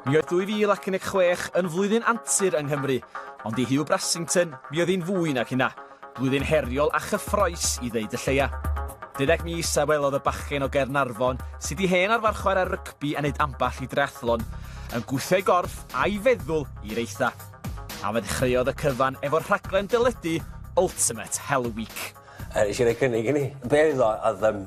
Mi oedd 2016 yn flwyddyn antur yng Nghymru, ond i Hugh Brassington mi oedd hi'n fwy nag hynna, blwyddyn heriol a chyffroes i ddeud y lleia. Deuddeg mis a welodd y bachgen o Gaernarfon, sydd di hen arfarchwaer ar rygbi a wneud ambell i dreathlon, yn gwthio ei gorff a'i feddwl i'r eitha. A fe ddechreuodd y cyfan efo rhaglen deledu Ultimate Hell Week. Nes i roi cynnig i ni. Be oedd o? Oedd yym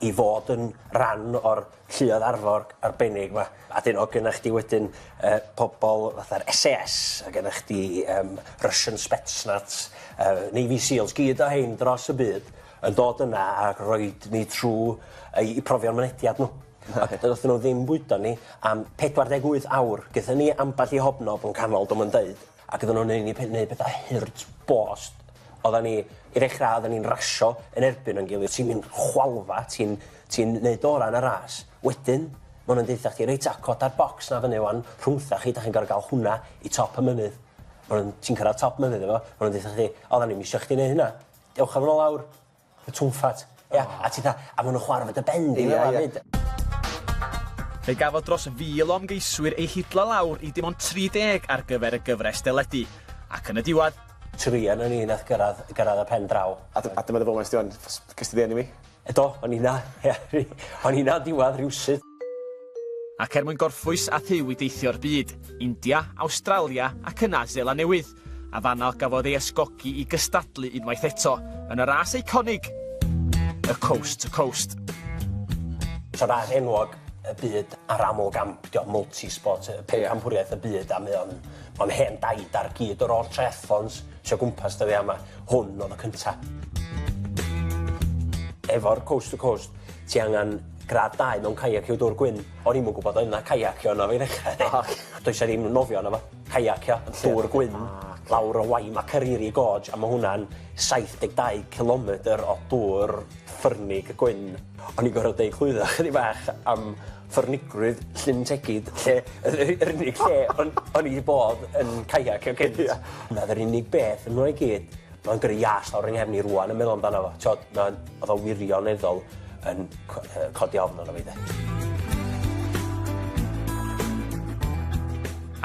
i fod yn ran o'r lluoedd arfor arbennig 'ma. A 'dyn o' gynna chdi wedyn yy pobol fatha'r Ess Ay Ess o' gynna chdi yym Russian Spetsnaz yy Navy Seals gyd o rhein dros y byd yn dod yna a rhoid ni trw yy 'u profion mynediad n'w. Ac yy ddothon n'w ddim bwydo ni am pedwar deg wyth awr gethon ni ambell i hobknob yn canol do' 'ma'n deud Ac oedden nhw'n neud ni pe- neud petha hurt bost. Oeddan ni, i ddechrau, oeddan ni'n rasio yn erbyn o'n gilydd. Ti'n mynd chwalfa, ti'n ti'n neud orau yn y ras. Wedyn, maen nhw'n deutha chdi, reit ta, coda'r bocs 'na fyny 'wan, rhwngthoch chi, dach chi'n gorfod gael hwnna i top y mynydd. Maen nhw'n... Ti'n cyrraedd top mynydd efo, maen nhw'n deutha chdi, oeddan ni'm isio chdi neud hynna. Dewch â fo 'na lawr. Y twmffat. Ia? A ti 'tha, a ma' nw'n chwara' 'fo dy ben di fel 'a 'fyd. Fe gafodd dros 1,000 o ymgeiswyr eu hidlo lawr i dim ond 30 ar gyfer y gyfres deledu, ac yn y diwedd, Tri onon ni nath gyrradd gyrradd y pen draw. A d- a dyma dy foment di ŵan. Ges di dy eni fi. Do, o'n i 'na. Ia, o'n i 'na yn diwadd rywsut. Ac er mwyn gorffwys â Huw i deithio'r byd, India, Awstralia ac yna Seland Newydd, a fan'na gafodd ei ysgogi i gystadlu unwaith eto yn y ras eiconig, y Coast to Coast. Tro fach enwog y byd a'r aml gamp, dio multi-sport, y pencampwriaeth y byd, a mae o'n o'n hen daid ar gyd yr holl triathlons sy o gwmpas dyddia yma, hwn oedd y cynta. Efo'r Coast to Coast ti angan Gradd dau mewn kayak yw dwr gwyn. O'n i'm yn gwbod oedd 'na kaiacio yno i ddechra 'de. Naci. Does 'a ddim nofio yno fo. Kaiacio yn llwr gwyn lawr y Wai Makariri Gorge a ma' hwnna'n saith deg dau cilometr o dwr ffyrnig gwyn. O'n i'n gorod deud clwydda chydig bach am ffyrnigrwydd Llyn Tegid lle yr u- yr unig lle o'n o'n i 'di bod yn kaiacio cynt. Ia. 'Na 'r unig beth yno i gyd. Ma'n gyrru ias lawr 'y nghefn i rŵan yn meddwl amdano fo. T'od ma' o'dd o wirioneddol yn c- yy codi ofn arno fi 'de.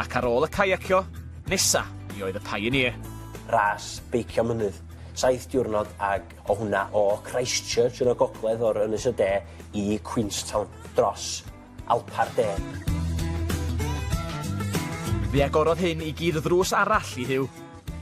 Ac ar ôl y caiacio, nesa mi oedd y Pioneer. Ras beicio mynydd. Saith diwrnod ag o' hwnna o Christchurch yn y gogledd o'r Ynys y De i Queenstown dros Alpau'r De. Fe agorodd hyn i gyd ddrws arall i Huw.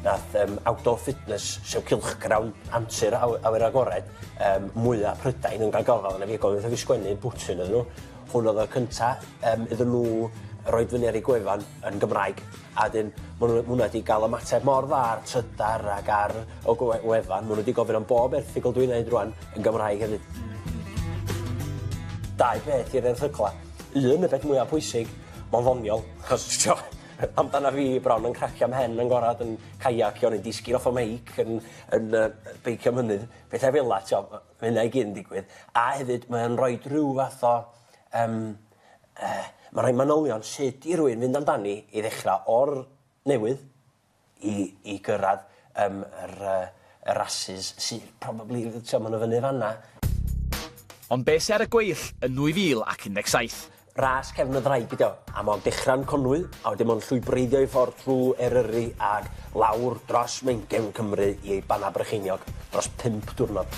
Nath yym Outdoor Fitness, sef cylchgrawn antur aw- awyr agored yym mwya Prydain yn ga'l gofal arno fi ac oedd wrth i fi sgwennu bwtyn iddyn nhw, hwn oedd y cynta yym iddyn nhw roid fyny ar eu gwefan yn Gymraeg. A wedyn ma' n'w ma' wnna 'di ga'l ymateb mor dda ar Trydar ac ar y gwe- wefan ma' n'w 'di gofyn am bob erthygl dwi'n neud rŵan yn Gymraeg hefyd. Dau beth i'r erthygla. Un y peth mwya pwysig ma'n ddoniol achos t'wo' yy amdana fi bron yn cracio 'mhen yn gorad yn caiacio neu disgyn off y meic yn yn yy yy beicio mynydd pethe fela t'wo' ma' ma' hynna i gyd yn digwydd a hefyd mae o'n roid rhyw fath o yym Yy, mae rhai manylion sut i rywun fynd amdani i ddechrau o'r newydd i i gyrraedd yym yr yy y rasys sy probably, ti'o', ma' nhw fyny fan'na. Ond be' sy ar y gweill yn 2017? Ras cefn y ddraig ydi o, a ma' o'n dechra yn Conwy a wedyn ma' o'n llwybreiddio ei ffordd trw Eryri ag lawr dros Mainc gefn Cymru i ei banna brycheiniog dros pump diwrnod.